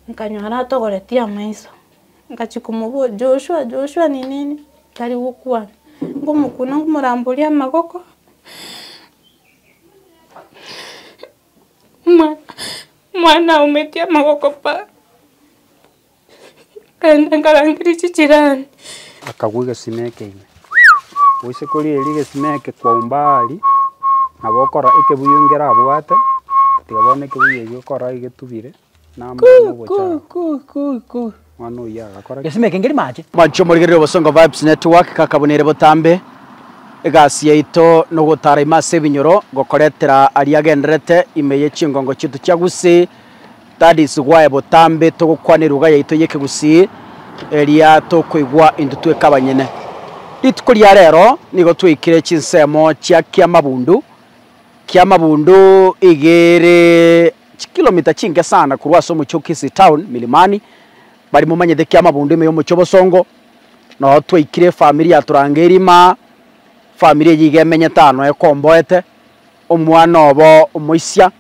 Nkanyora atogoretie amaiso, ngachia komoboria, Joshua, Joshua, ninini? Tari gokwana. Nkomokuna nkomoramboria amagoko, omwana omwana aumetie amagoko pa, nkaenda nkarangeria chijirani. Akagwa egesima eke ime. Goise korigereria egesima eke kwaumba aaria, nabo okora ekebuyu ngerabwate, tiga bono ekebuyu ekio okora iga etubire. namoyo nobochara. Mwana oyio agakora ki? Mwancho morigererie Obosongo Vibes Network kaka buna ere botambe. Egasi yaito nogotara ime ase ebinyoro ngokoretera aria agendererete ime ye chingongo chiaito chia Gusii. That is why botambe togokwana eruga yaito ye Kigusii eria tokoigwa intwe tweka abanyene. Rituko ria rero nigo twaikire chinsemo chia Kiamabundu. Kiamabundu iga ere Chikilomita chinke sana korwa ase omochie o Kisii Town, Milimani, bari momanyete ekiama bundu ime y'omochie o Bosongo, nao twaikire efamiri ya Turangeri ime aa. Efamiri eyio iga emenyete aa noyo ekomboete, omwana obo omoisia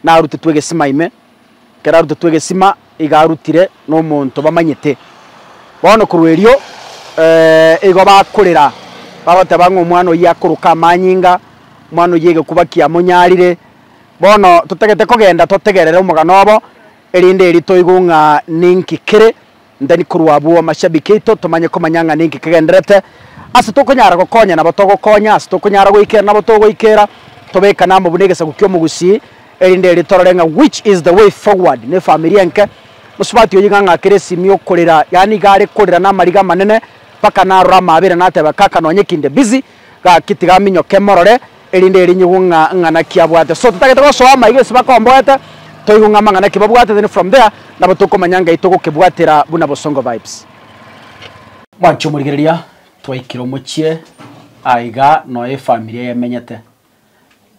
narutetwe egesima ime, ekero arutetwe egesima iga arutire na omonto bamanyete. Bono korwa erio igo bakorera bagoteba ng'a omwana oyio akoroka amanyinga, omwana oyio egekuba kiamonyarire. Bono totagete kogenda totegerere omogano obo, erinde erio toigwe ng'a ninki kere ndani korwa abwo amashabiki aito, tomanye komanya ng'a ninki kegendererete, ase tokonyara gokonya nabo togokonya, ase tokonyara goikera nabo togoikera, tobekane amo buna egesaku ki'omogusii, erinde erio torore ng'a which is the way forward n'efamiri enke. Mosubati oyio iga ng'akire esimi yokorera, yaani iga are korera namariga amanene, mpaka narora amaabera nateba, kaka nonyekinde busy, Gaki tigaminyoke morore, erinde erinyigwe ng'a ng'a naki abwate. So totagete gosoa amaiga ase bakomboete, toigwe ng'a amang'ana ki babwate then from there nabo tokomanya ngai togokebwatera buna Bosongo Vibes. Mwanche omorigereria, twaikire omochie aa iga noe efamiri eye emenyete.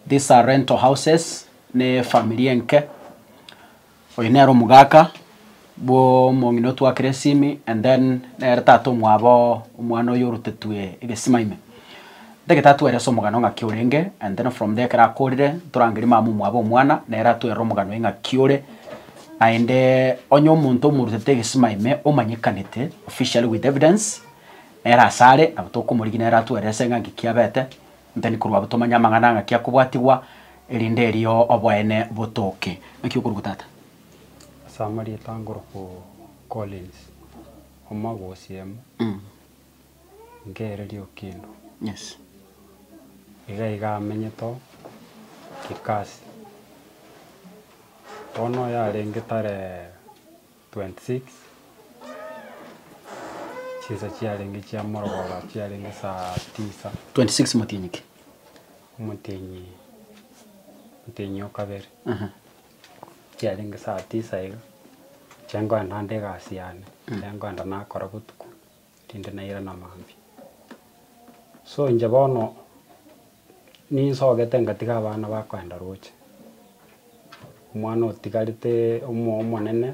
These are rental houses, ne efamiri enke. Oyo nere omogaka bw'omong'ina otwakire esimi and then nere tata omwabo omwana oyo orotetwe egesima ime. Ntagete atwere ase omogano ng'aki orenge and then from there ekero akorire torangerie mama omwabo omwana nere atwerire omogano oye ng'aki ore naende onye omonto omorutete egesima ime omanyekanete officially with evidence nere asare nabo tokomorigia nere atwere ase ng'a ng'aki abete Ntani korwa abo tomanye amang'ana ng'aki akobwatigwa, erinde erio oboene botoke. Naki okorokwa Tata. Ase amarieta angorokwo Collins, omogosiemo, nkeereria Okindo. Yes. Iga iga amenyete oo Kikasi. Bono oyarenge tare. 26 Chinsa chiarenge chia morogoro chiarenge saa tisa. 26 Motienyi ki? Omotienyi Omotienyi o kabere. Aha. Chiarenge saa tisa iga, inche ngoenda ande egasi yane, inche ngoenda nakora botuko. erinde nairane amambia. So inche bono ninsogete ngatiga abana bakoenda roche, omwana otigarete omoyo omonene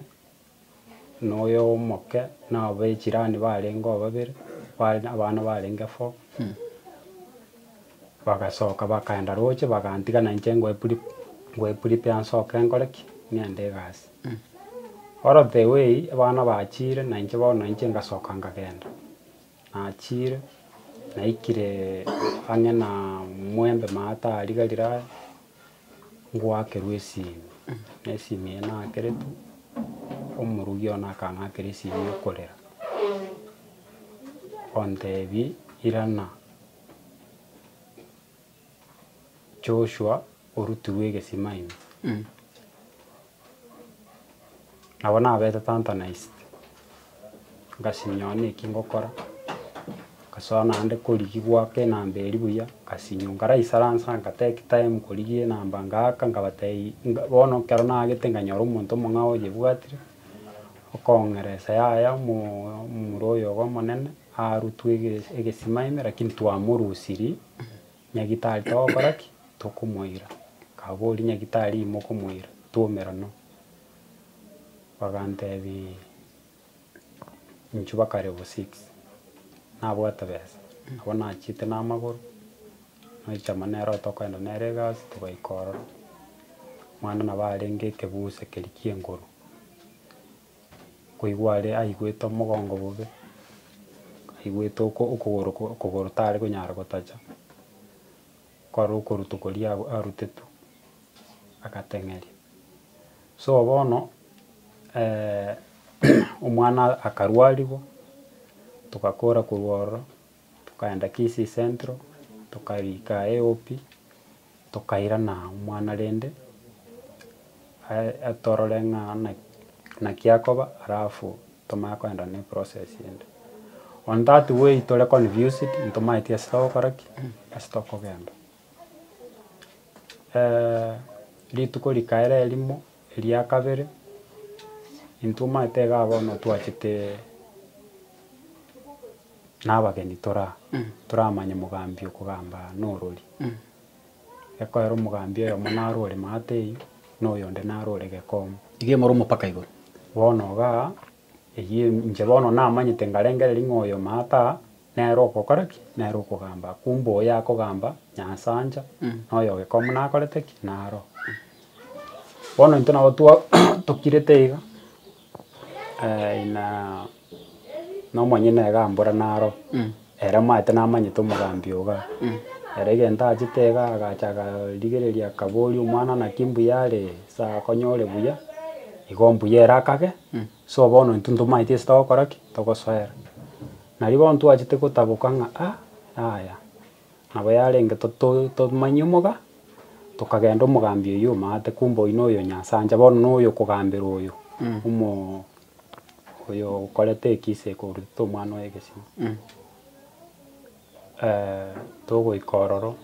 na oyo omoke na abechirani barenge babere, abana barenge four, Bagasoka bakaenda rooche, bagantiga na inche ngoe prepare nsoke nkore ki? Ng'ende egasi. Oro the way abana bachiire na inche bono na inche ngasoka nkagenda. Nachiire, naikire ang'e na mwembe mama tarigarire aye, ngoakerwa esimi, na esimi eye naakeretwe, omorugi one akang'akera esimi ekorera, ontebi irana. Joshua orutigwe egesima ime, nabo nabete tanta na ise, ngasinyora naki ngokora, ngasoa naende korigia goaka enamba eria buya, ngasinywa nkaraisaransa nka take time korigia enamba ngaaka nkabatebia nga bono ekero naagete nkanyora omonto omong'ao oyebwatire, okong'eresa yaya omoo omomura oyo obe omonene, Arutwa egesima ime lakini twamorusiri nyagitari togokora ki? Tokomoira. Kaboria nyagitari ime okomoira twomera no. Bagantebia inche bakarebo six nabwate besa nabo nachete na amagoro nochama nere otokoenda nere egasi togaika ororo. Mwana nabo arenge ekebusa keria kienguru. koigwa are aigwete omogongo bobe, aigwete oko okogoro ko okogoro tare konyara gotacha, kware okoruto koria ago arutetwe, agateng'eria. So bono omwana akarwarigwa, togakora korwa ororo, Tokaenda Kisii Central, tokarika AOP, tokairana omwana rende atorore ng'a naki akoba alafu tomanye kogenda ne process ende. On that way tore confused ntomaeti ase togokora ki? Ase tokogenda. rituko rikaera erimo eria kabere, intwe omanyete iga bono twachete. nabageni tore aa, toramanye mogambi okogamba aa norori. Ekoera omogambi oyomo naro ore maate eyio, na oyonde naro ore gekomo. Iga imore omopaka igoro. Bono igaa, eyio em inche bono namanyete ngarengereria ng'a oyo maate aa, nere ogokora ki? Nere okogamba aa. Kumbe oyo akogamba, nyasaancha, na oyo gekomo nakorete ki? Naroo. Bono intwe nabo twa tokirete iga. Ina nomonyene iga mbora naro, ere omanyete namanyete omogambi ogo iga, ere egento achete iga agacha agarigereria akaboria omwana naki mbuya are ase akonyore buya, igo mbuya ere akage, so bono intwe ntomanyeti gese togokora ki? Togosoera. Nari bono twachete gotaboka ng'a ah yaya. Nabo yarenge totomanyie omoga, tokagenda omogambi oyio omate, kumbe oyio noyo Nyasacha, bono noyo okogambera oyo omo oyo okorete ekisa eke orutete omwana oye egesio. togoika ororo,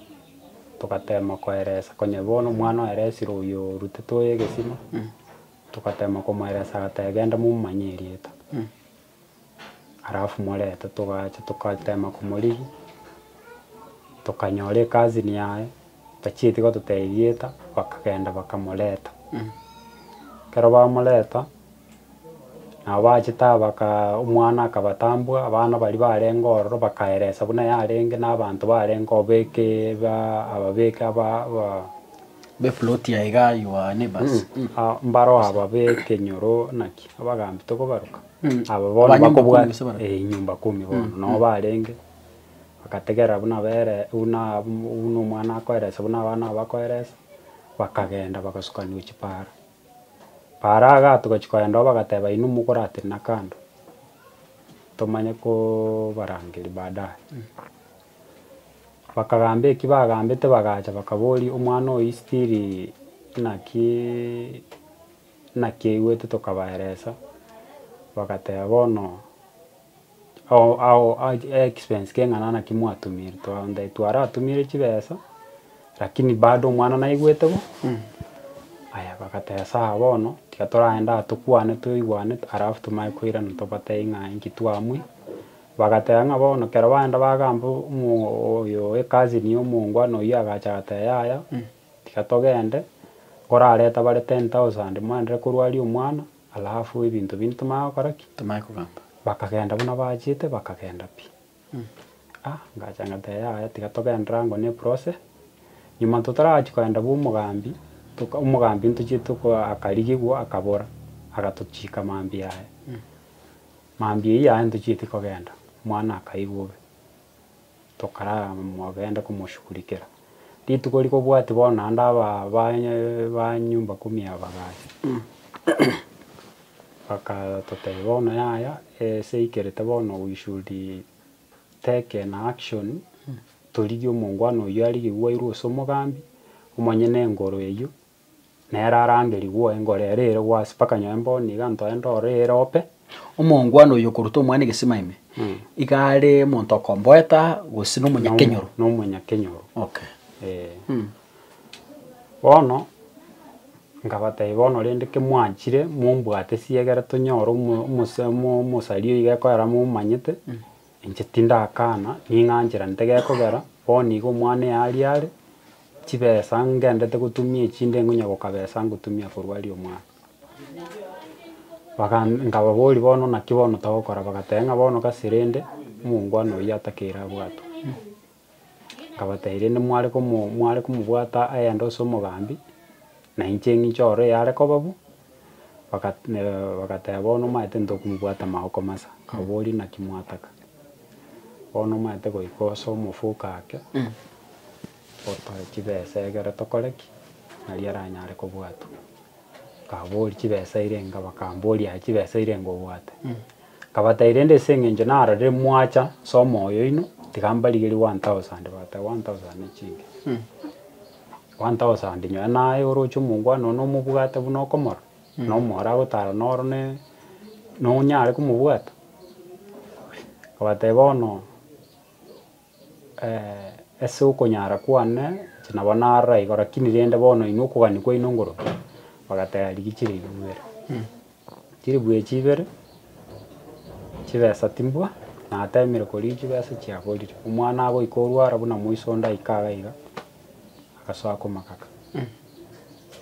togatema koeresa konya bono omwana oeresire oyo orutete oye egesima, togatema komoeresa agateba genda momomanye erieta. Alafu morente togacha togatema komorigia, tokanyora ekazini yaye tachieti gototebia erieta, bakagenda bakamoreta. Ekero bamoreta, nabo bachete aba bakaaa omwana akabatambua, abana baria barenge ororo bakaeresa buna yarenge na abanto barenge obekeeee baa ababeke abaa abaa. B'eploti ya Hegai wa Anibas. Mbaro aba b'ekenyoro naki abagaambi tokobaroka? Aba bono Abanyumba bakobwata kumi gose barabwo? eh, nyumba kumi bono nao barenge, bagategerera buna bere buna buna omwana akoeresa buna abana aba bakoeresa, bakagenda bagasukania gochia paara. Paara iga togachia kogenda oo bagateba inwe mokoratenena kando, tomanye kobarangeria baadaye. Bakagamba eki bagambete bagacha bakaboria omwana oyo isitiri naki naki aigwete tokabaeresa, bagateba bono ao ao achi expense keng'ana naki mwatumire twaambia twaratumire chibesa lakini bado omwana naigwete bo aya bagateba sawa bono tiga toragende aa tokwane toigwane alafu tomanye koirana tobatebie ng'a inki twamwia. Bagateba ng'a bono kero baenda bagamba oyo e cousin ya omongwana oyio agacha agateba yaya tiga togende nkorare etabare ten thousand moenderere korwaria omwana alafu ebinto binde tomanye gokora ki? Tomanye kogamba. Bakagenda buna bachete bakagenda pi. Ah ngacha ngateba yaya tiga togende rango ne process nyuma totarachia kogenda bwa omogambi toka omogambi ntochiete ko akarigigwa akabora agatochika mambia aya. Mambia eyio aye ntochieti kogenda. Omwana akaigwa obe. Tokaramogende komoshugurikera. Rituko rikobwati bono naende aba ba ba nyumba kumi aba bagacha bagatotebia bono yaya ase eikerete bono we should take an action torigie omongwana oyio arigie gwairwe ase omogambi, omonyene engoro eyio nere araamberigwe engoro ere ere gwase mpaka nyomba niga ntoe ndore ere ope. Omongwana oyio okoruta omwana egesima ime, iga are omonto okomboeta gose nomonyakenyoro? Nomonyakenyoro. Okay. Ee. Bono, nkabatebia bono rende ki mwanchire mombwate siegera tonyore omo omosemo omosari oyo iga ekoera momanyete. Inche tindakana, ning'anchera nte gekogera, bono igo omwana eye aria are, chibesa ngendete gotumia echi nde ngonya gokabesa ngotumia korwa aria omwana. Baga nkababoria bono naki bono togokora, bagateba ng'a bono gase rende, omongwana oyio atakeire abwatwe. Akabatebia, Rende mware komobwata agende ase omogambi, na inche ng'inche oro yare koba bu? Bagateba, Bono omanyete ntokomobwata maoko masa. Akababoria, Naki mwataka? Bono omanyete goika ase omofuka ake, otoe chibesa egere tokore ki? Nari aranyare kobwatwa. Akababoria, Chibesa eire inga? Bakamboria, Aye chibesa eire inga obwate? Nkabatai rende ase engencho narorire mwacha somo oyoino, tiga mbarigeri one thousand bata one thousand ne chinke. One thousand nyoe naye oroche omongwana one omobwate buna okomorora, na omororo agotara noro ne nonyare komobwata? Nkabateba bono. Ase okonyara kwane inche nabo narora igo rakini rende bono inwe okogania kwaino ngoroke, bagateba rigia chilifu ibere. Chilifu echio ibere, chibesa timbua, natemire koria chibesa chiaborire. Omwana agoika orwara buna moiso onde aika iga iga, agasoa komagaka,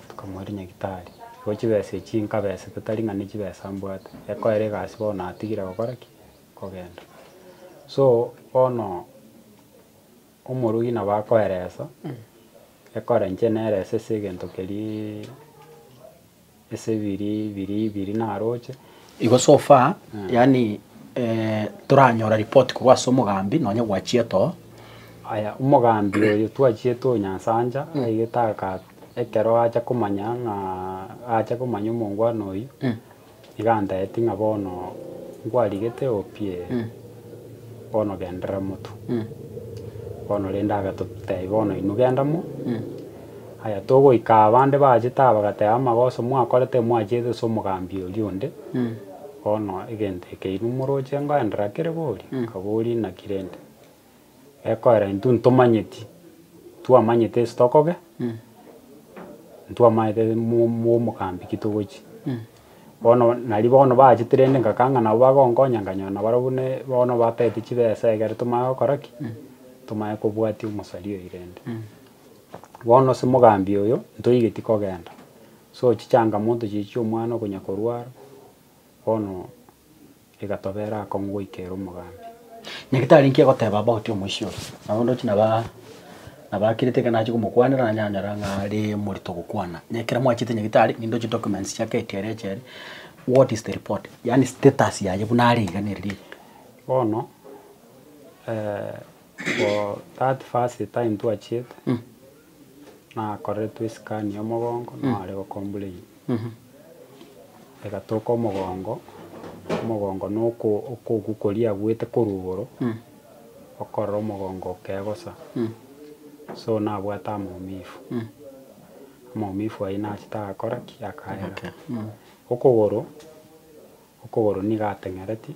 tokamoira nyagitari. Igo chibesa echio nkabesete tari ng'a nechibesa mbwate, ekoera egasi bono natigire gokora ki? kogenda. So bono omorui nabo akoeresa ekore inche nerese ase egento keria ase biria biria ibiri naroche. Igo so far yaani toranyora report korwa ase omogambi nonye gwachiete oo. Aya omogambi oyo twachiete oyo Nyasacha aigete ekero acha komanya ng'a acha komanya omongwana oyio. Iga antaeti ng'a bono nkwarigete opie, bono genderera motu. Bono rende agatotebi bono inwe genda mo. Aya togoika aa bande bachete aa bagateba amagoso mwakorete emwachiete ase omogambi oria onde, bono egento eke inwe moroche ngoendera kere boria, nkaboria inaki rende. Ekoera intwe ntomanyeti, twamanyete ase tokobe, ntwamanyete mo- mo- mogambi ki togochia. Bono nari bono baachete rende ngakana ng'a nabo bagonkonya nkanyora na barobwo ne bono batagete chibesa ekero tomanye gokora ki, tomanye kobwatia omosari oyi rende. Bono ase mogambi oyo, ntoigeti kogenda, so chichangamoto chichia omwana okonya korwara, bono. egatobeera akong'u goika ere omogambi. Nyagetari inki egoteba abagoti omoisia oye? Nabo ndoche naba nabakirete ekero nache komokwanera, nanye nanyora ng'a are morito gokwana. Onye ekero mwachete nyagetari, ninde oche documents chia KTRA eche ere, what is the report? Yaani status yaye buna are iga nere riria. Bono for that first time twachiete. nakoreretwe esikaani y'omogongo nao are gokomburein. Egatoka omogongo, omogongo na oko- okogu koria abuete korwa igoro, okorora omogongo okegosa. So nabwate amaumifu, amaumifu ayio nachete agakora ki? Akaera. Okogoro, okogoro nigo ateng'ereti.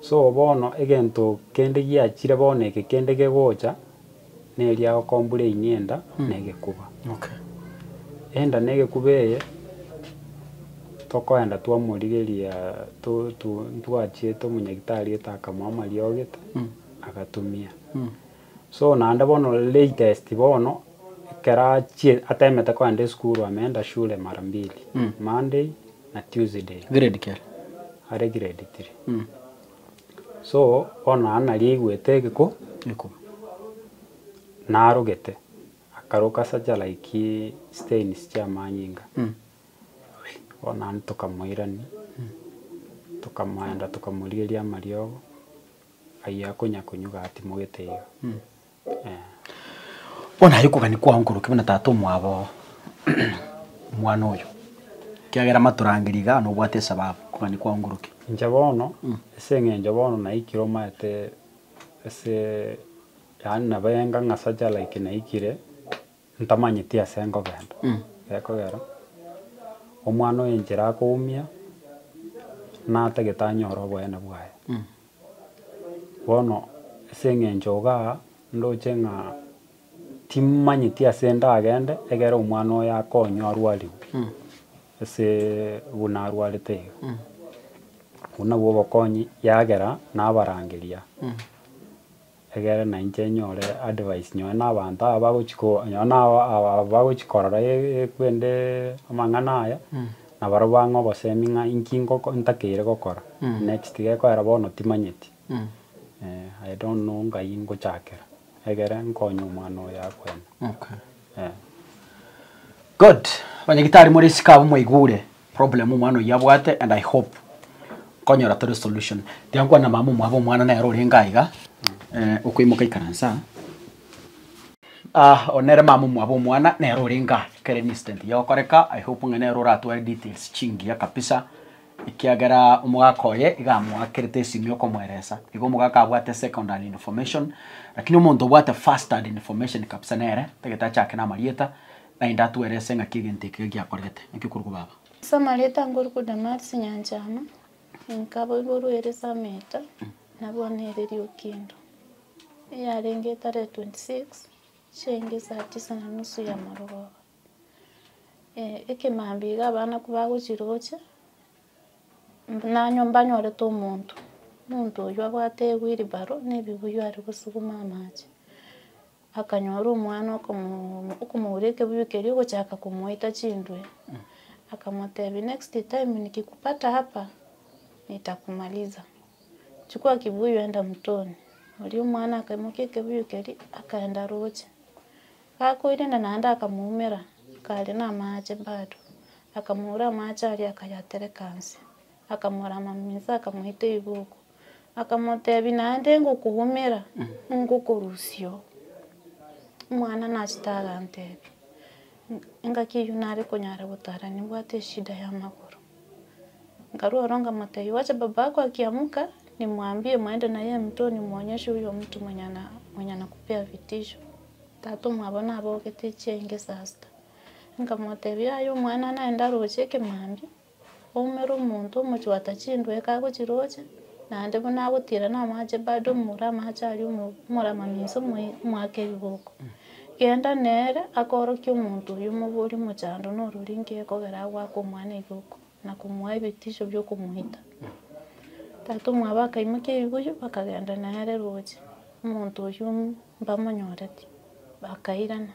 So bono egento kende giachire bono eke kende gegocha, neria okombure inyie enda na egekuba. Enda na egekuba eye, tokoenda twamorigeria to- to- ntwachiete omonyagetari etaakamoa amariogi, agatumia. So naende bono latest bono ekero achie atemete kogenda esukuru ameenda shule mara mbili, Monday na Tuesday. Grade ki are? Are grade three. So bono naende nari aigwete egekuba Gekuba. narogete, akaroka sacha like stains chia amanyinga. Bono naende tokamoirani, tokamoenda tokamorigeria amariogo. Aye akonya konyuga atimogete iga. Eeh. Bono aye okogania kwao nkoroke buna tata omwabo omwana oyo, ekiagera matorangeria igaa nobwate esababu, okogania kwao nkoroke. Inche bono, ase eng'encho bono naikire omanyete ase yaani nabo enga ng'a sacha like naikire. Ntamanyeti ase nkogenda. Gekogera, Omwana o enchera akoumia, natagete anyore oboene bwaye. Bono ase eng'encho igaa, ndoche ng'a timanyeti ase ndagende egere omwana oyo akonywa arwarigwe asee buna arwarete iga. Obwo nabwo obokonyi yagera nabarangeria. Egere na inche nyore advice nonye na abanto aba bagochi ko nonye na aba bagochi korora kwende amang'ana aya, nabarobwo bang'e obosemi ng'a inki ngoko ntakeire gokora next gekoera bono timanyeti. I don't know ngai ngochakera egere nkonye omwana oyo akwene. Good. Abanyagitari more isiko abwo mwaigure. Problem omwana oyio abwate and I hope nkonyora tore solution. Tiga nkwane na mama omwabo omwana nere orenge aiga eh, okoimoka ikaransa. Ah, one nere mama omwabo omwana nere orenge aa ekero ere incident eye egokoreka, I hope ng'a nere oratware details chingiya kabisa ekiagera omogaka oye iga amoakerete esimi okomoeresa. Igo omogaka abwate second hand information, lakini omonto obwate first hand information kabisa nere tagete achake namarieta, Naende atwerese ng'aki egento ekiya giakorete. Naki okorokwa baba? Samarieta nkorokwa Damasi nyanchama, enka boiborwa ere Sameeta, na bono ere Riokindo. Eyarenge etarehe 26 chiainga esaa tisa na nusu ya marogoba, ekemambia iga abanaku bagochia roche, nanywa mbanyorete omonto, omonto oyio abwate ewheelbarrow na ebibuyu are gosuguma amache. Akanyora omwana okomoura ekebuyu keria ogochaka komoita chintwe, akamotebia, next time nikikupata hapa nitakumaliza, chukua kibuyu enda mtoni. Oria omwana akaimokia ekebuyu keria akaenda aroche, gakoirenda naende akamoumera akaria na amache bado, akamoura amache aria akayatereka inse, akamorama inse akamoita riboko. Akamotebia, Naende ngokogomera, ngokorusia oo. Omwana nachete agantebia, engaki eyio nare konyara gotara nibwate eshida y'amagoro. Nkarwa ororo nkamotebia, Wacha baba yako akiamoka, nimwambie mwende naye emtwe nimwonyeshe oyo mtu mwenye ana mwenye anakupea vitisho. Tata omwabo nabogete chiengesa sita. Nkamotebia, Yaya omwana naende aroche ekemambia, Oumera omonto omochwata chindweka agochiroche, naende buna agotiira namache bado omura amache aria omo- omoramami gose omoe- omoake ebiboko. Genda nere akoorokie omonto oyio omoborie omochando norori nki ekogera agoaka omwana ebiboko, na komoa ebitisho biokomoita. Tatomwabo akaimokia ebibuyu bakagenda nere roche, omonto oyio mbamonyoreti, bakairana.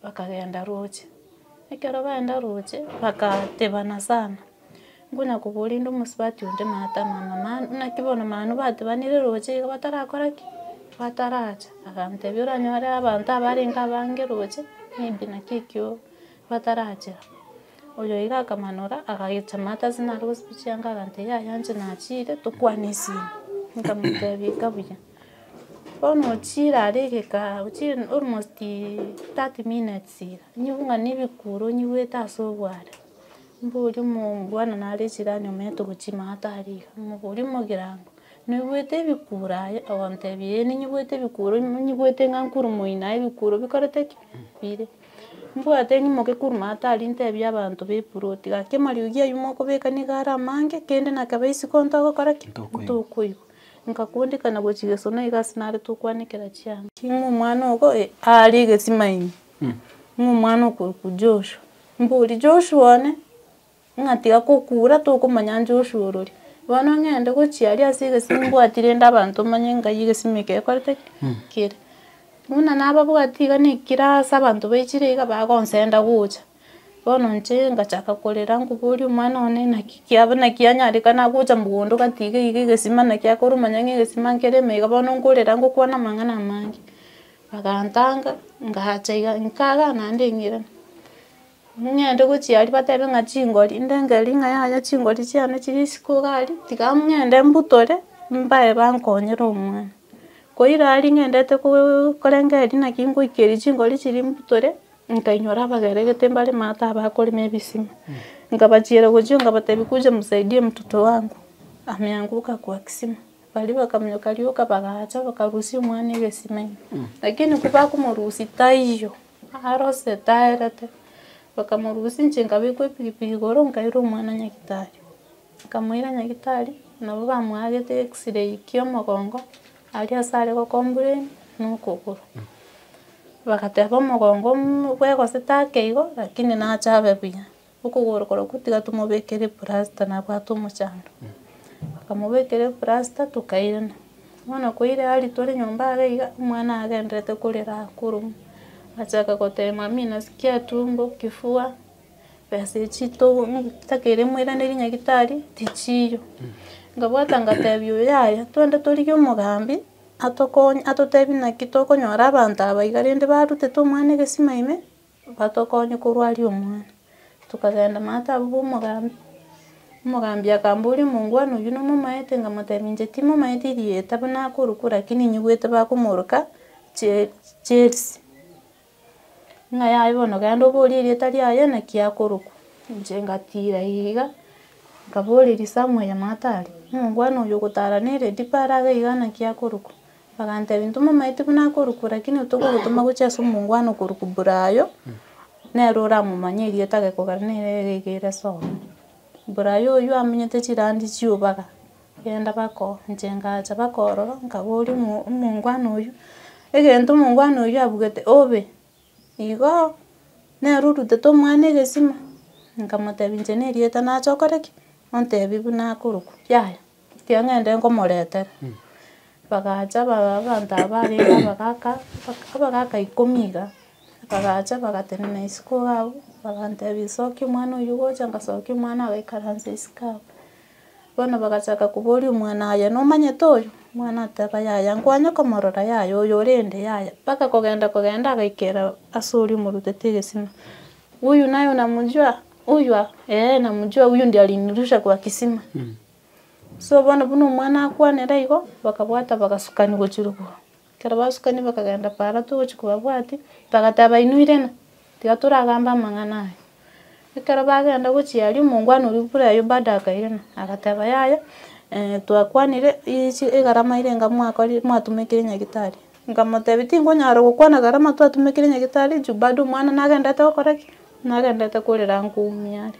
Bakagenda roche. Ekero baenda roche, bagatebana sana, nkonya koboria inde omosubati onde mama tamama manu naki bono manu batebanire roche iga batarakora ki? Bataracha. Agantebia oranyore abanto abarenge abange roche, maybe naki ekio batarachera. Oyo iga akamanora, agayecha mama ase narwoo speech yange agantebia yaya inche nachiire, tokwane esimi. Nkamotebia ikabuya. Omochire are egekaabu chire almost thirty minutes iga, nyibung'ane ebikuro nyigwete ase obware, mbori omobwana nare echirani omanyete ogochima ata aria iga, omobori omogirango, noigwete ebikuro aye? Ogotebia ee ninyigwete ebikuro nyi- nyigwete ng'a nkuru moino aye ebikuro bikorete ki? Bire. Mbwate nyimoke kuru maate aria ntebie abanto ba eploti gaki amariogi aywo mokobeka niga are amange kende na kebe isiko ntogokora ki? Ntokoigwa. Nkakundikana gochia Yeso, na igo ase nare tokwanekera chianga. Ng'a omwana ogo, ee, aare egesima ime. Ng'a omwana okorokwa Joshua. Mbori, Joshua one, ng'a tiga kokura, tokomanya Joshua orori. Bono ng'ende gochia aria ase egesima mbwati rende abanto manye ngai egesima eke gekorete ki? Kere. Buna nababwati iga na ekirasi abanto baichire iga bagonsenda gocha. Bono inche ngachaka korera nkoboria omwana one naki kiabo naki anyarekana agocha mogondo gatiga iga egesima naki akoruma nonye egesima nkerema iga bono nkorera ngokwana amang'ana amange, bagantanga ngacha iga nkagaa naende eng'irane, ng'ende gochia aria batebe ng'a chingori, ndengeri ng'a yaya chingori chiane chiri isiko iga aria, tiga ng'ende mbutore mbae bankonyere omwana. Koira aria ng'endete korengereria naki ngoikeria chingori chiria mbutore, nkainyora abageregete mbare maate abakorema ebisima. Nkabachiera gochia nkabatebia kuja msaidie mtoto wangu ameanguka kwa kisima. Baria bakamoyoka rioka bagacha bakarusia omwana egesima ime. Lakini ko bakomorusia taiyo, arosire taerete. Bakamorusia inche nkabekwa epikipiki igoro nkaira omwana nyagetari. Akamoira nyagitari, nabo bamoagete X-ray ki'omogongo, aria ase are gokombureni na okogoro. Bagateba omogongo mm bwegosete ake igo, rakini nache abe buya. Okogoro korokwo tiga tomobekere eplasta nabwate omochando. Bakamobekera eplasta tokairana. Bono koira aria tore nyomba iga iga, omwana agenderete korera akorwa. Achaka goteba, mami nasikia tumbo, kifua. Besa echi togo takeire moiranerie nyagetari tichiiyo. Nkabwata ngatebia oyo yaya twende torigie omogambi atokonye atotebie naki tokonyora abanto aba iga rende barutete omwana egesima ime, batokonye korwa aria omwana. Tokagenda mama taba ba omogambi, omogambi akamboria omongwana oywo nomomaete nkamotebia inche timomaeti erieta buna akorokwa lakini nyigwete bakomoroka Che Chelsea. Ng'a yaye bono genda oborie erieta riaye naki akorokwa. Inche ngatiira iga, nkaboreria Samuel matari, omongwana oyo ogotara ne lady paro abe iga naki akorokwa. Bagantebia intwe momaete buna akorokwa lakini intwe togotoma gochia ase omongwana okorokwa Brayo, nere oramomanye erieta gekogera nere ere iga ere sawa. Brayo oyio amenyete chirandi chiobaga. Genda bako, inche ngacha bakoororo, nkaboria omo omongwana oyio, egento omongwana oyio abugete obe, igo nere orutete omwana egesima, nkamotebia inche na erieta nache okore ki, ontebie buna akorokwa, yaya, ekiagera ngende nkomoretera. Bagacha ba- ba- abanto aba barenge abagaka, abak- abagaka ikomi iga, bagacha bagatenena isiko iga abwo, bagantebia sokia omwana oyio gocha, ngasokia omwana agaikaransa isiko abwo. Bono bagachaka koboria omwana, Aye nomanyete oyo? Omwana agateba, Yaya, nkwanye komorora, yaya, oyo ore inde, yaya. Mpaka kogenda kogenda agaikera ase oria omorutete egesima. Huyu naye unamjua? Huyu a? Ee, namjua, huyu ndiye alinirusha kwa kisima. So bono buna omwana akwanire igo, bakabwata bagasukani gochirigwa. Ekero basukani bakagenda para togochia kobabwatia, bagatebainwirena, tiga toragambe amang'ana aya. Ekero bagenda gochia aria omongwana oria buna aye bado akairana, agateba yaya twakwanire ichi egarama ere enga mwakori mwatumekire nyagetari, nkamotebia tingonyara gokwana egarama twatumekire nyagetari juu bado omwana nagenderete gokora ki? Nagenderete korera nkoumia are.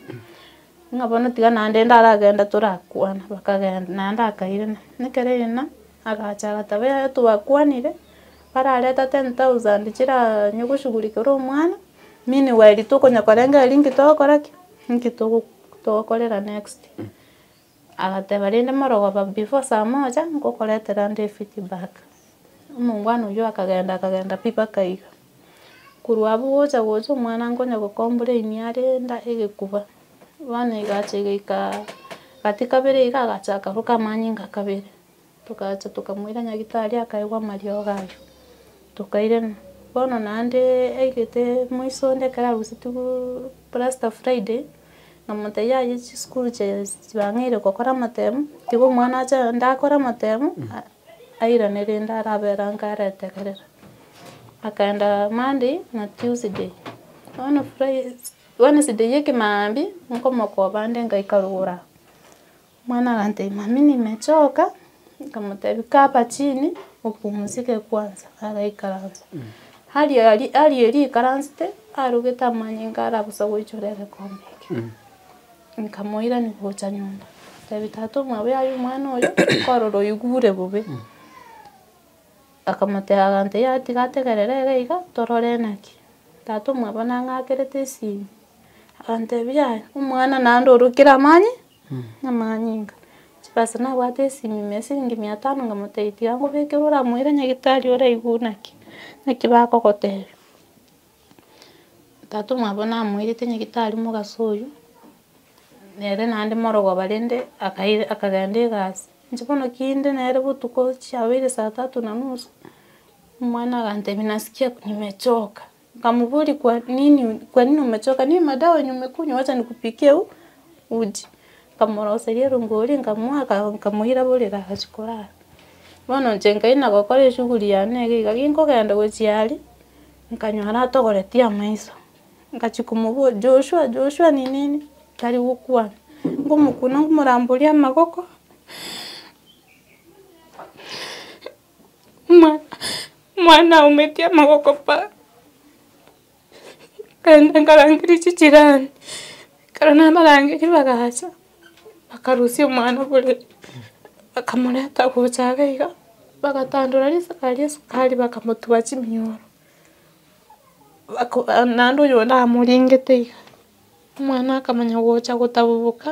Ng'a bono tiga naende ndaragende torakwane, bakagenda, naende akairana. Ekero yairana, agacha agateba yaya twakwanire, barareta ten thousand chiraa nyogoshughulikere omwana, meanwhile tokonya korenge aria nki togokora ki? Nki togo togokorera next. Agateba rende morogoba before saa moja, ngokoretera nde efeedback. Omongwana oyio akagenda akagenda pi mpaka iga. Korwa abwo gocha gocha omwana nkonya gokombora emiara enda egekuba, bono egacha egaika gati kabere iga agacha akaruka amanyinga kabere, togacha tokamoira nyagitari akaigwa amariogo ayio, tokairema. Bono naende aigete moiso onde ekero arusetigwee plasta friday, namotebia yaye chisukuru chie chibang'eire gokora amatemu, tiga omwana ache aye onde akore amatemu. airane rende araberange aretegerera. Akaenda Monday na Tuesday, bono Fri Wednesday ya ekemambia nkomokoba nde ngaika rogoro aa, omwana agantebi mummy nimechoka, nkamotebi kaa hapa chini upumzike kwanza, agaikaransa. Aria ari aria erio aikaransete, arogete amanyinga ara bosa goichora egekombe ekio. Nkamoirania gocha nyomba, ntebi tata omwabo yaya omwana oyo, korora oigure bobe, akamoteba agantebia yaya tiga ategerere ere iga torore naki. Tata omwabo nang'akerete esimi, agantebia yaya omwana naende orokire amanye, amanyinga. Chibesa nabwate esimi ime esiringi mia tano nkamotebia tiga nkobekere oramoire nyagetari oraigure naki, naki bakogotebia. Tata omwabo namoirete nyagetari mogaso oyio, nere naende morogooba rende akair akagenda egasi, inche bono kinde nere botuko chiabeire saa tatu na nusu, omwana agantebia nasikia nimechoka, nkamoboria kwa nini kwa nini umechoka, ni madawa yenye umekunywa wacha nikupikie u- uji, nkamoroseria erongori nkamoa aka nkamoira borere agachia korara. Bono inche nkaira gokora eshughuli yane iga iga, ginkogenda gochia aria, Nkanyora atogoretie amaiso, ngachia komoboria, Joshua, Joshua ninini? Tari gokwana. Nkomokuna nkomoramboria amagoko, omwana omwana aumetie amagoko pa, nkaenda nkarangeria chijirani, ekero nabarangeria bagacha. Bakarusia omwana bore, bakamorenta gocha abe iga, bagatandora risaga ria esukari bakamotuba chiminyoro, bako naende oyonde amoringete iga, omwana akamanya gocha gotabuboka,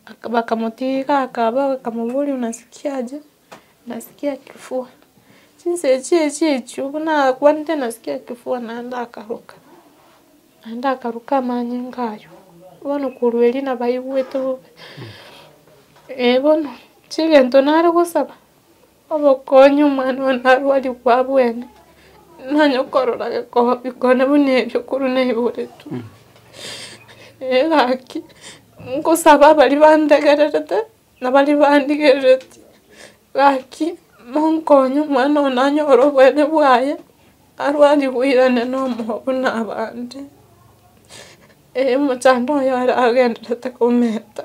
baka bakamotiga iga akaba bakamoboria onasikiaje. Nasikia kifua, chinsecho echio echio buna nakwanire nasikia kifua naende akaruka, naende akaruka amanyinga ayio, bono korwa erio nabaigwete bobe. Eeh bono inche egento nare gosaba, obokonyi omwana one narwaria kwa abwene, nonye okorora gekoonye bikone buna ebio korwa naiboretwe. Eeh gaki, nkosaba abaria bantegererete. Na baria barigereretie, gaki monkonye omwana oo nanyore oboene bwaye, arwarigwe oirane nomoyo buna abande. Erio omochando oye are agendererete komenta.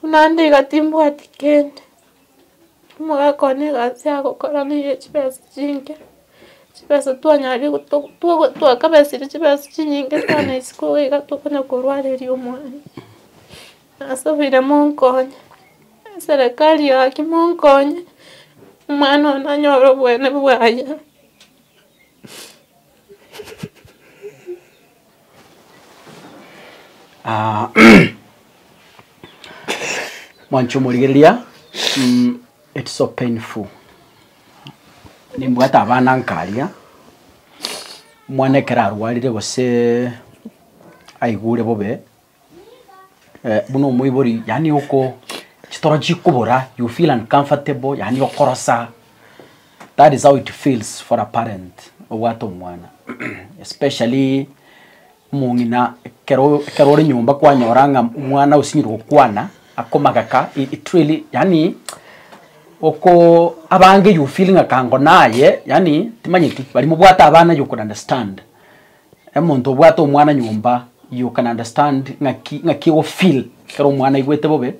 Buna ande iga timbwati kende, omogaka one iga ase agokora na iga chibesa chinke, chibesa twanyaria goto twago twakabesire chibesa chinyinge sana isiko iga iga tokonya korwareria omwana. Nasubire monkonye, eserekari ya haki monkonye, omwana one anyore obweene bwaye. Ah, mwanche omorigereria mm, it's so painful nimbwate abana nkaria omwana ekero arwarire gose aigure bobe buna omoibori yaani oko chitoro chikobora you feel uncomfortable yaani okorosa that is how it feels for a parent obwate omwana especially omong'ina ekero ekero ore nyomba kwanyora ng'a omwana osinyire gokwana akomagaka it really yaani oko abange you feel ng'a kango naye yaani timanyeti bari mobwate abana you could understand. Omonto obwate omwana nyomba you can understand ng'aki ng'aki ogo feel ekero omwana aigwete bobe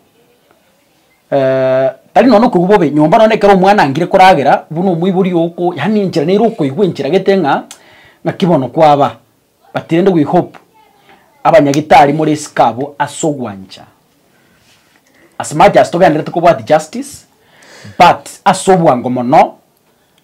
tari nonya okoigwa bobe nyomba nonya ekero omwana angire koragera buna omoibori oko yaani enchera nere okoigwa enchera gete ng'a ng'aki bono kwaba but rende we hope abanyagitari more isiko abwo ase ogwancha as much as togendereti kobwati justice but ase obwango mono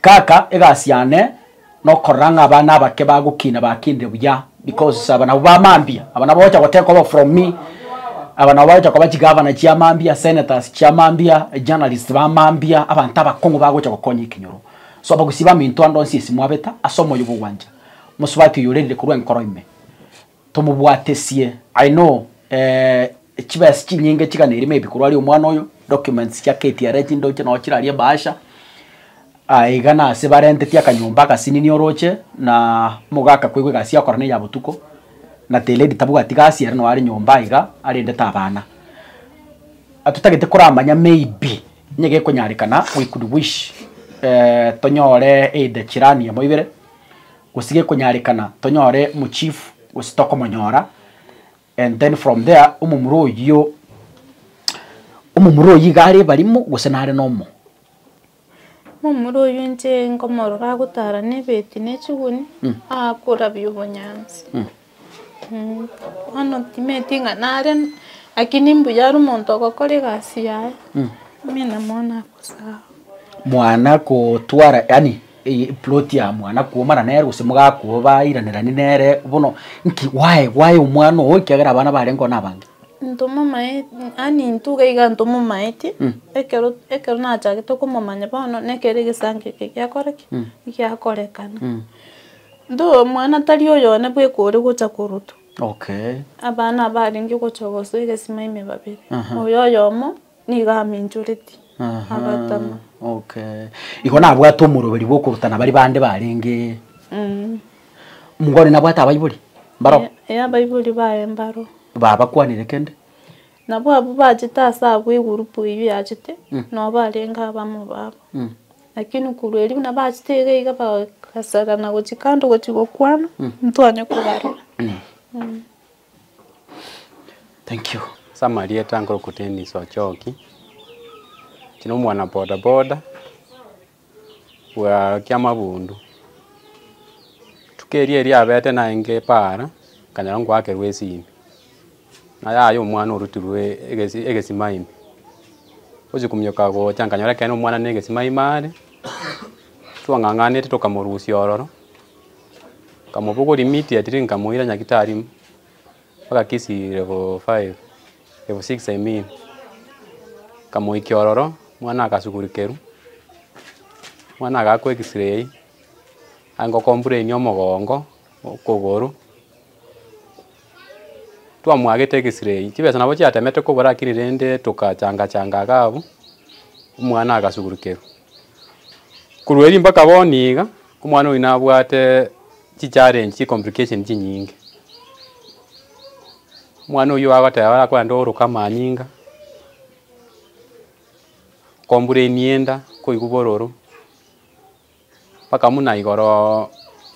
Kaka egasi yane nokorora ng'a abana abake bagokina bakinire buya because aba nabwo bamambia aba nabwo bagocha goteka obo from me aba nabwo bagocha koba chigavana chiamambia senators chiamambia journalists bamambia abanto abakong'u bagocha gokonya ekenyoro so abagusii baminto ande onsi ase mwabeta ase omoyo bwa ogwancha mosubati oyo orerire korwa enkoro ime. Tomobwatesie, I know eeh, chibesa chinyinge chigana erimo ebi korwa aria omwana oyo, documents chia KTRA chindoche noo chiraria ebahasha, aye iga nase barentetie akanyomba agasininia oroche na mogaka koigwa egasi yakora neya botuko, na the lady tabwati gasi ere noo are nyomba iga arendete abana. Atotagete koramanya maybe niga ekonyarekana we could wish eeh tonyore either chirani emo ibere. Gose gekonyarekana tonyore mochief gose tokomonyora and then from there omomura oyio omomura oyio iga are ebarimo gose nare nomo. Omomura oyio inche nkomorora agotara na ebeti na echiguni akorabia obonyansi. Bono timanyeti ng'a nare lakini mbuya are omonto ogokora egasi yaye, amina mwana agosaga. Mwana kotwara yaani eye ploti ya mwana kwomana nere gose mogakoa bairanerani nere bono nki why why omwana ogo ekiagera abana barenge oo nabange? Ntomomanye yaani intwe iga iga ntomomanyeti ekero ekero nachagete komomanya bono nekero egesanka eke giakora ki? Giakorekana. Intwe omwana tari oyone bwe eke ore gocha korutwa. Okay. Abana abarenge gocha gose egesima ime babere. Aha. Oyo oyomo nigo aminchoreti. Aha. Agatama. Okay. Igo nabwate omoroberi bw'okorutana bari bande barenge. Mm. Mungu one nabwate abaibori? Mbaro? Ee, ee abaibori baye mbaro. Babakwanire kende? Nabo abwo bachete ase agwo egurupu eyio yachete nabo barenge abamo babo. Lakini korwa erio buna bachete iga iga bagasarana gochia kando gochia gokwana ntwanye kobarora. Thank you. Ase amarieta nkoroku Dennis Ochoki, inche nomwana bodaboda. bwa kiamabundu. Rituko erio eriabete naye ngepaara, nkanyora ngwakerwa esimi, ng'a yaya omwana orutirwe egesi egesima ime. Gochia kominyoka gocha nkanyora ekero omwana na egesima ime are, twang'ang'anete tokamorusia ororo, nkamobogoria miti at least nkamoira nyagetari. Bagakisia elfu five, elfu six I mean, bakamoikia ororo, omwana agasugurukerwa, omwana agakwa X-ray, aye ngokomburenia omogongo, okogoro, twamwagete X-ray, chibesa nabo chiatemete kobua rakini rende togachanga changa iga abwo, omwana agasugurukerwa. Korwa erio mpaka bono iga, omwana oyio nabwate Chichallenge chi complication chinyinge. Omwana oyio agoteba arakore naende ooroke amanyinga, kombura emienda, koigwa bororo, mpaka buna igoro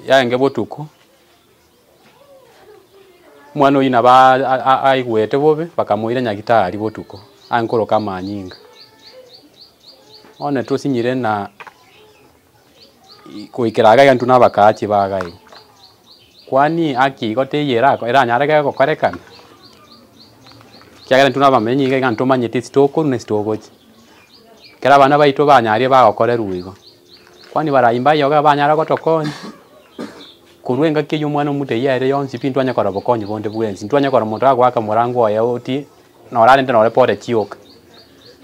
yaenge botuko, omwana oyio nabo aigwete bobe bakamoira nyagetari botuko ange koroka amanyinga. Bono netosinyire na. goikera iga egento nabakaga chibagai. Kwani haki igo teiyo erako- eranyare ge- gokorekana? Ekiagera intwe na abamenyi iga iga ntomanyeti ase tokorwa na ase togocha. Ekero abana baito banyaria bagokorerwa igo, kwani barai mbaye iga banyare gotokonya, korwa engaki eywo omwana omoto eywo ere yonsi pi ntwanye korora obokonyi bonde bwensi. Ntwanye korora omonto agoaka morango oye ogotie, nora arende nore pore chioka.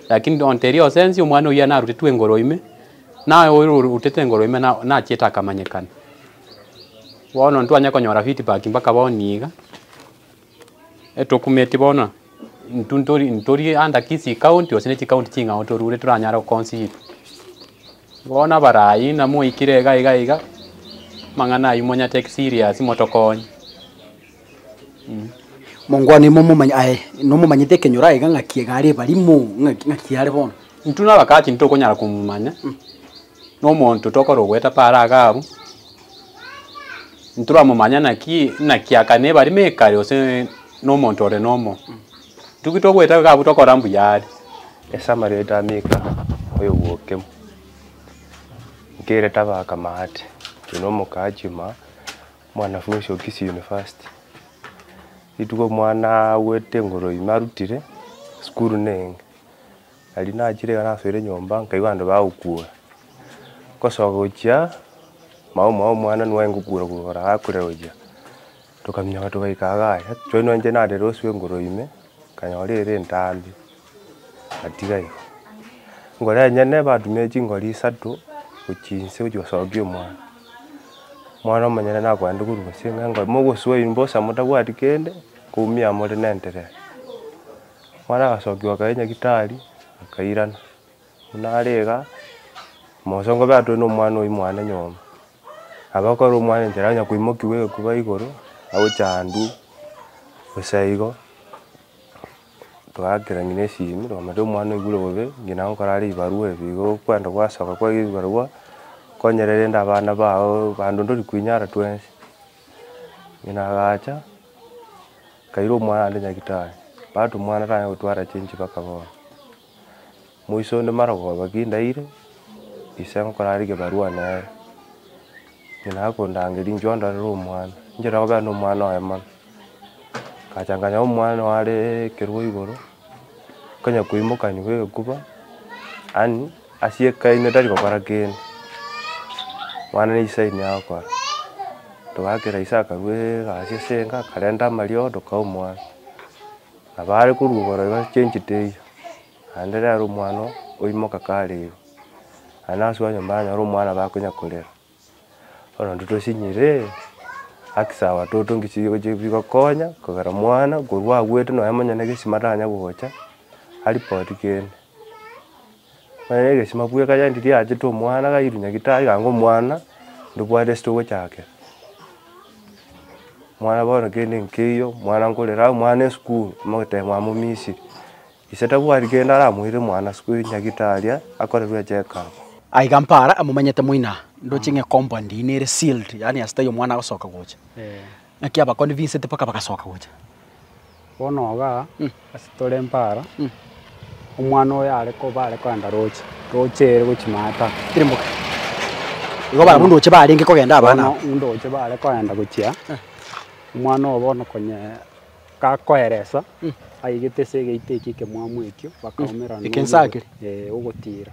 Lakini nonteria osensi omwana oyio narutetwe igoro ime. Naye oyo orutete engoro ime na- nachiete akamanyekana. Bono ntwanya konyora feedback mpaka bono iga. Etokumeti bono intwe ntori ntori under Kisii county gose ne chicounty ching'ao torure toranyare goconsider. Bono abarai namoikire iga iga iga, amang'ana ayio monyateki serious motokonye. Mongwane ime omomanye, aye nomomanyete ekenyoro aiga ng'aki iga are ebarimo, ng'aki ng'aki are bono. Intwe na abagachi ntitokonyara komomanya, na omonto tokora ogoeta paaro age abwo, ntoramomanya naki naki akane ebarimo ekare gose na omonto ore nomo. Intwe ki togoeta iga abwo tokora mbuya are. Ase amareeta a Mika oyo bwokemo, nkerete abakama aate, oyo nomokachi, ma omwanafunsi o Kisii University. Rituko omwana agwete engoro ime arutire esukuru na eyenge, nari nachire iga nasoire nyomba nkaigwa abanto bagokura. Ngosoka gochia, mama omwabo omwana nigo aye ngokura kura akurire gochia, tokaminyoka togaika iga aye. Choni inche narire uso engoro ime, nkanyora ere entambia. Gatiga igo, ngore enyene batumire chingori isato gochia inse gochia gosokia omwana. Omwana omonyene nakoende korwa gose ng'a ngore mogosoa ime mbosa motabwati kende, koumia amo ore na enterero. Omwana agasokiwa akaira nyagetari, akairana. Buna are iga, mosongo obe atware na omwana oyio mwane nyomba. Abe akorera omwana enchera onye koimokiwa egekuba igoro, agocha handuu, gose igo. Twagakerania nesimi, rwamate omwana oigure bobe, ng'ina nkore are ebibarua ebi, igo okwenda gwasoka kwa ebibarua, konyora rende abana bago bande onde ori koinyara twensi. Ng'ina agacha, nkaira omwana ande nyagetari, batu omwana tanyara gotwara chinse mpaka bono. moiso onde mara goba ki ndaire, ise nkorarige ebarua nere, ng'ina akondangeria inche ondorere omwana, inche nokobeka na omwana oye mono. Ngacha nkanya omwana oye are ekerua igoro, nkonya koimokanigwa bwa egekuba, yaani asiekaine tari gokora kende, mwana na ise ayinia agokora, togakera ise akarua egasi ase enka akarenta amariogo tokae omwana. Abaare koruobora iga ase enchete eyio, naende rero omwana oo oimoka kare igo, naende nasubete onye baranyora omwana bakonya korera, bono intwe tosinyire haki sawa toto nki chi chigokonya kogera mwana korwa agwete nonye monyene gesima taranya gocha aripoti kende. Bare negesima bwe ekaya endi riachete omwana kairu nyagetari ganga omwana ndobwate esete ogochakera. Omwana bono kende nkeiyo, omwana nkorera aye omwana esukuru mogotebia mwaye momisiri. Ise tabwati kende aramoire omwana sukuru nyagetari aye akorerwe echeck up. Aiga mpara amomanyete moino aa, ndoche ng'e compound eye nere sealed, yaani ase taiyo omwana agosoka gocha. Naki abakoni binsete mpaka bagasoka gocha. Bono iga ase tore mpara, omwana oyo are koba are kogenda roche, roche ere gochia maate tari. Tari mboka. Igo barabwo ndoche barenge kogenda abana aba. Bono ndoche bare kogenda gochia, omwana oyo bono konye gakoeresa, aigete ase egeita ekio ekemwamu ekio, bakaumera Eke nsa ake. ogotiira.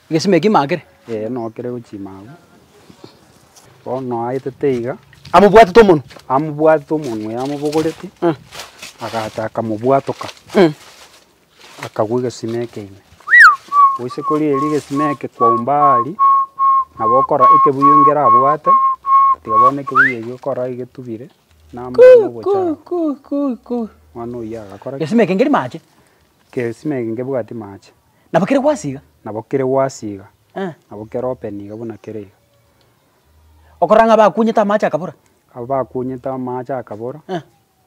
Egesima eki imakire? Ee, nokire gochima agwo. Bono aetete iga. Amobwatete omonwe. Amobwatete omonwe oyo amobogoreti. Mm. Agacha akamobwatoka. Mm. Akagwa egesima eke ime. Goise kori eri egesima eke kwaumba ari, nabo okora ekebuyu ngera abwate, tiga bono ekebuyu eki okora egetubire, na amang'ana ogochara. Kuu kuu kuu kuu. Mwana oyio agakora ki? Egesima eke ngeri mache? Egesima eke ngebwati mache. Nabo kere gwasi iga. Nabo kere gwasi iga. Nabo kere open iga buna kere iga. Okorora ng'a bakunyete amaache akabora. Abwo bakunyete amaache akabora,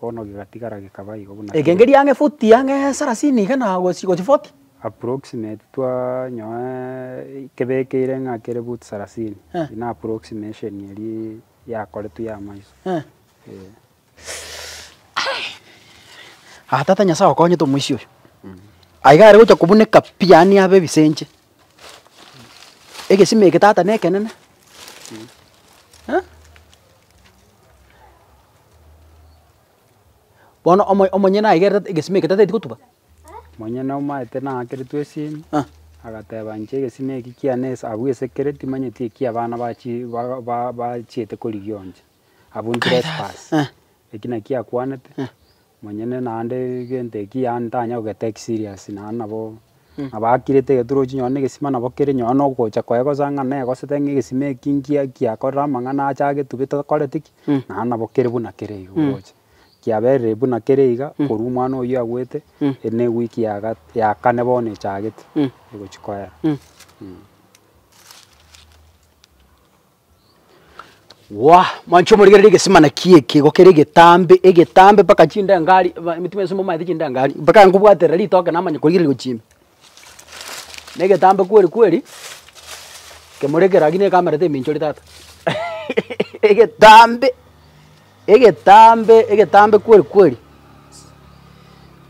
bono gegatigara gekaba igo buna kere. Egengeri ang'e futi ang'e sarasini iga na gochi gochi foti. Approximate twanyoe kebekeire ng'a kere futi sarasini, ina approximation eria yakoretwe ya amaiso, eh. Aa tata Nyasae okonyete omoisia oyo. Aiga are gocha kobuneka pi yaani abe ebisenche. Egesima eke tata ne ekenene. Aa? Bono omo- omonyene aigerete tata egesima eke tataeti gotuba? Omonyene omaete naakeretwe esimi, Ah. agateba inche egesima eki kiane ase abwo esekereti manyeti eki abana bachi baga ba- ba- bachiete korigia onche. Abwo Tirespas, eki nakio akwanete, monyene naende egento eki yaani ntanya kogetake serious naende nabo abakirete egeturuchi nonye na egesima nabo kere nonye na ogocha koye gose ang'e na negosete ng'a egesima eki nkiya kiakorire amang'ana ache agetubete okoreti ki, naende nabo kere buna kere iga oroche. Kiaberire buna kere iga korwa omwana oyio agwete, eri ne ewiki ya ga ya kane bono echagete egochia koera. Gwa, mwancha omorigerere egesimana kie kigo kere egetambe, egetambe mpaka chindengari ba- emitima yonsi momaete chindengari, mpaka nkobwaterera ritoke namanya korigereria gochimba. Na egetambe kweri kweri, kemorekera gaki nekamera teminchori tata egetambe, egetambe, egetambe kweri kweri,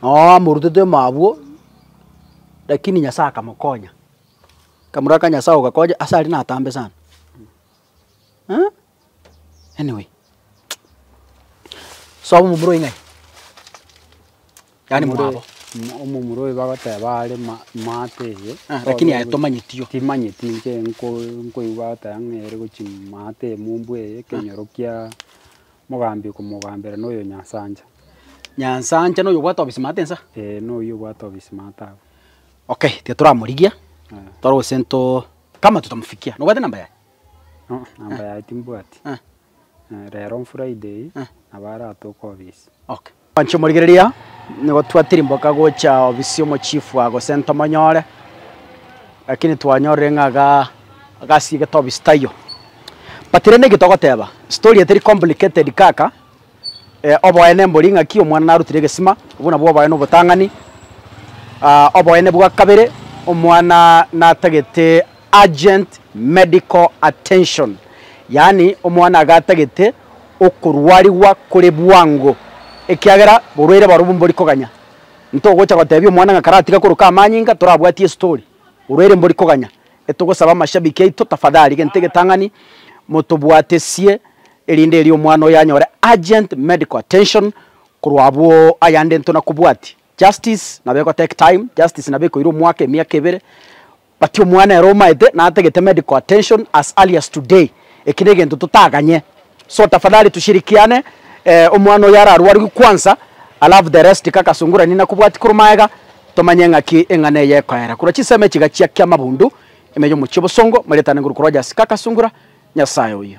noo amorutete mabwo, lakini Nyasaye akamokonya. Kamura ka Nyasae ogakonya ase aria natambe sana eh anyway sobo momura oyo ng'ai yaani mwabo Omomura oyo bagoteba are maate eye lakini aye tomanyeti oo. Timanyeti inche nkoigwa bagoteba ng'a ere gochia maate eye mombu eye ekenyoro kia mogambi okomogambera na oyo Nyansancha. Nyansancha noyo obwate obisimaate nsa? Eeh noyo obwate obisimaate abwo. Okay tiga toramorigie tore gose nto kama totamofikia nobwate namba yaye? Aa namba yaye timbwati. Eh. Eh rero on Friday Eh. nabo aratoke obisi. Okay. Mwanche omorigereria nigo twatirimboka gocha obisi omochifu aa gose ntomonyore, lakini twanyorire ng'a ga gasiegete obisi taiyo. But rende eki togoteba, story eye teri complicated kaka. Oboene mbori ng'aki omwana narutire egesima, obwo nabwo oboene obotang'ani. Oboene bwa kabere, omwana natagete urgent medical attention, yaani omwana iga atagete okorwarigwa kore bwango, ekiagera borwaire barobwo mbori koganya. Ntogocha gotebia omwana ng'a karatiga koroka amanyinga torabwatie estori, orwaire mbori koganya. Etogosaba amashabiki aito tafadhali gento egetang'ani motobwatesie erinde erio omwana oyo anyore urgent medical attention korwa abwo ayande ntona kobwati justice nabo ego take time justice nabo ekoira omwaka emiaka ebere but omwana ero omaete natagete medical attention as early as today eki negento totaganye so tafadhali tushirikiane eh, omwana oyo ararwarigwe kwansa alafu the rest tika kasungurani nakobwati korwa maega tomanye ng'aki eng'ana eye ekoera korwa chisemo echi gachiakia amabundu ime yomochie obosongo marietane nguru korwa Jas ka kasungura nyasaye oyo.